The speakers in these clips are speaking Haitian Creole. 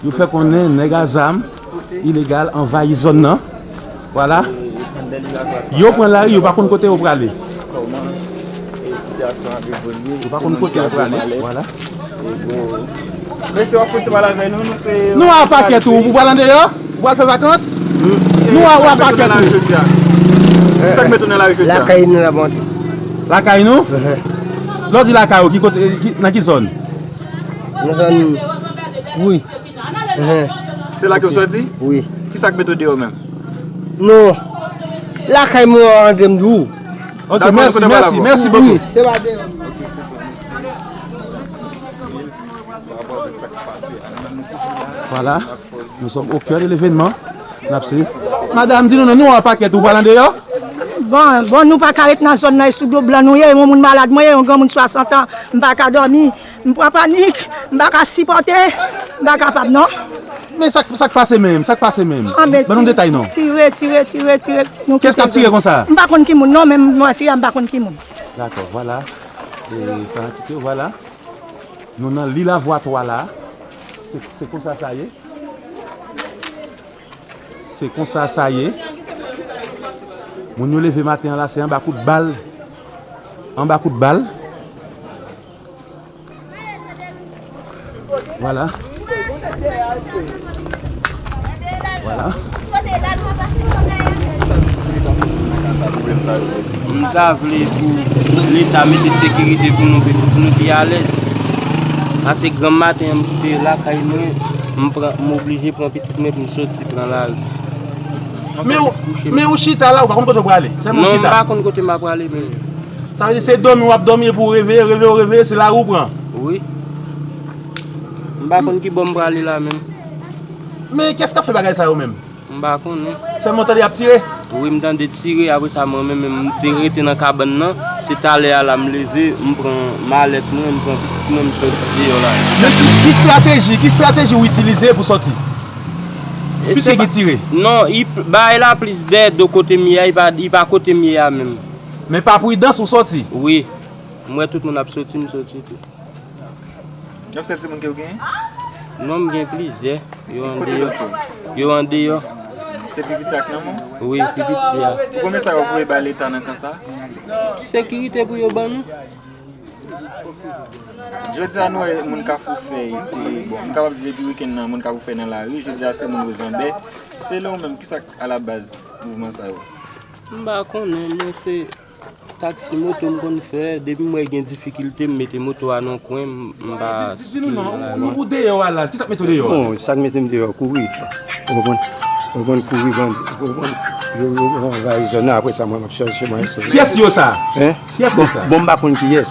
Yo fè konnen nèg a zam ilegal anvayi zòn nan. Vwala, yo pran lari, yo pa konn kote yo prale. Yo pa konn kote yo prale, vwala. Nou a pakèt ou, ou pral andeyò? Ou pral fè vakans? Nou a ou a pakèt ou? Lakay nou la bon. Lakay nou? Lè w di lakay ou, nan ki zòn? Mwen jwenn wi. Se la ke w soti? Wi. Ki sa k mete w deyò menm? Non. Lakay mwen an antre m deyò. Ok, mèsi, mèsi, mèsi bokou. Deyò a deyò. Vwala. Nou sòm o kè de levenman, nap swiv. Madam di nou non, nou an pakèt ou pral andeyò? Bon, bon nou paka ret nan zòn nan e sou do blan nou ye, yon moun malad mwen ye, yon granmoun 60 an, m paka dòmi, m pran panik, m paka sipòte, m pa kapab non. Men sak sak pase menm, sak pase menm? Ban nou detay non. Tire, tire, tire, tire. Kès kap tire konsa? M pa konn ki moun non, menm mwen tire a m pa konn ki moun. Dakò, vwala, e fanatik yo vwala, nou nan Lil Avwatwa la. Se konsa sa ye. Se konsa sa ye. Moun yo leve maten an la se anba kout bal. Anba kout bal. Vwala. Vwala. Nou ta vle pou leta mete sekirite pou nou vin pou nou pi alèz. Ase granm maten an m kite lakay mwen, m pran m oblije pran pitit mwen pou m soti pran lari. Men ou men ou chita la ou pa konn kote ou prale? Sèlman ou chita? Non m pa konn kote m ap prale menm. Sa vle di se dòmi w ap dòmi epi ou reveye, reveye ou reveye se lari ou pran? Wi. M pa konn ki bò m prale la menm. Men kès kap fè bagay sa yo menm? M pa konnen. Sèlman w tande yap tire? Wi m tande tire apre sa mwen menm m te rete nan kabann nan, se talè a la m leve m pran malèt mwen, m pran pitit mwen m soti deyò la. Men ki strateji, ki strateji w itilize pou soti? Piske gen tire? Non, bagay la plis dè do kote m ye a, li pa kote m ye a menm. Men pa pridans ou soti? Wi, m wè tout moun ap soti m soti tou. Yon sèl timoun kew genyen? Non m gen plizyè, yo andeyò. Kote lòt yo? Yo andeyò. Se pi piti a k nan men w? Wi, pi piti a. Pou konbyen sa yo voye bay leta nan kan sa? Sekirite pou yo ban nou. Jodi a nou wè moun kafou fèy te, bon m kapab di depi wikenn nan moun kafou fèy nan lari, jodi a se moun wozanbè. Selon ou menm ki sa k alabaz mouvman sa yo? M pa konnen men se. Taxi moto m konn fè, depi m wè gen difikilte m mete moto a nan yon kwen m pa sikile nan lari. Ou deyò a la, kisa k mete w deyò a? Bon, sa k mete m deyò, kouri. Ou konprann, kouri bann, ou konprann. Yo anvayi zòn nan apresa mwen m ap chèche mwen sove. Kiyès yo sa? Hein? Kiyès yo sa? Bon m pa konn kiyès.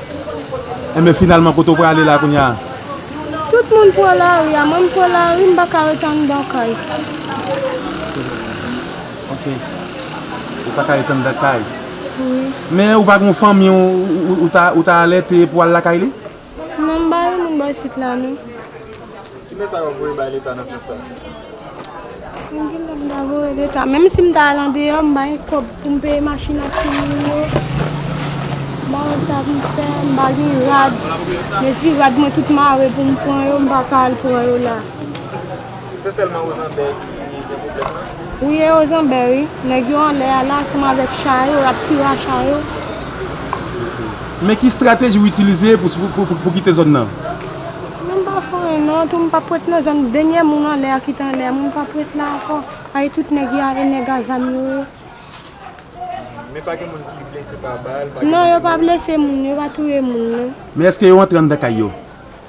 Enben finalman kote w prale la kounya a? Tout moun pran lari a, mwen m pran lari m paka ret anndan kay. Ok. Ou paka ret anndan kay. Wi. Men ou pa gen yon fanmi ou ta alète pou al lakay li? Non m pa gen moun bò isit la non. Ki mesaj wap voye bay leta nan sans sa? Mwen gen dwa m ta voye leta menm si m ta al andeyò m pa gen kòb pou m peye machin ak timoun yo m pa wè sa pou m fè m pa gen rad mezi rad mwen tout mare pou m pran yo m pa ka al pran yo la Se sèlman ozanbè ki gen pwoblèm nan? Wi e ozanbè wi nèg yo anlè a la ansanm avèk cha yo yap fira cha yo. Men ki strateji w itilize pou kite zòn nan? Mwen pa foure non tou m pap ret nan zòn denyè moun anlè a ki t anlè a mwen m pap ret la ankò paske tout nèg yo a e nèg a zam yo ye. Men pa gen moun ki blese pa bal pa gen moun ki mouri? Non yo pa blese moun yo pa touye moun non. Men eske yo antre anndan kay yo?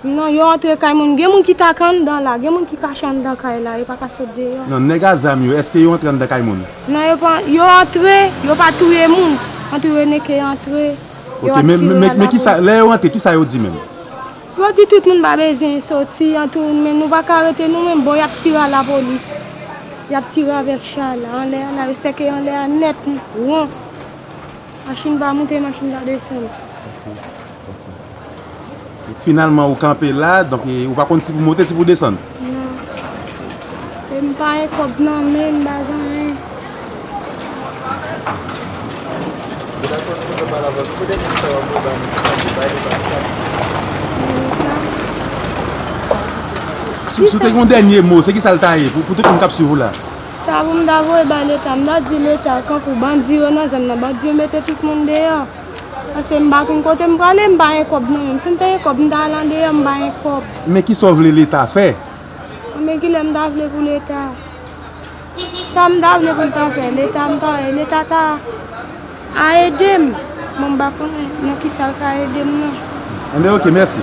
Non yo antre kay moun gen moun ki ta ka anndan la gen moun ki kache anndan kay la yo pa ka sot deyò. Non nèg a zam yo eske yo antre anndan kay moun? Non yo antre yo pa touye moun antou yo neke antre. Yo ap tire nan lakou. Ok, men lè yo rantre, kisa yo di menm? Yo di tout moun pa bezyen soti an tou, men nou pa ka rete nou menm. Bon, y ap tire a lapolis. Y ap tire avèk cha la, anlè a la. Yo sèke anlè a nèt, won. Machin pa moute, machin pa desann. Finalman ou kanpe la, donk ou pa konn si pou monte si pou desann. Non. E m pa gen kòb nan men, m pa gen anyen. Si w te gen yon dènye mo, se ki sa l ta ye pou tout moun k ap swiv ou la? Sa pou m ta voye bay Leta? M ta di Leta, tankou bandi yo nan zòn nan, bandi yo mete tout moun deyò. Pase m pa konn kote m prale m pa gen kob nan menm si m te gen kob m ta al andeyo m pa gen kob. Men kisa w vle leta fè? Konbyen kile m ta vle pou leta? Sa m ta vle pou l ta fè leta m ta wè leta ta a ede m bon m pa konnen nan kisa l ka ede m nan. Enben ok mèsi.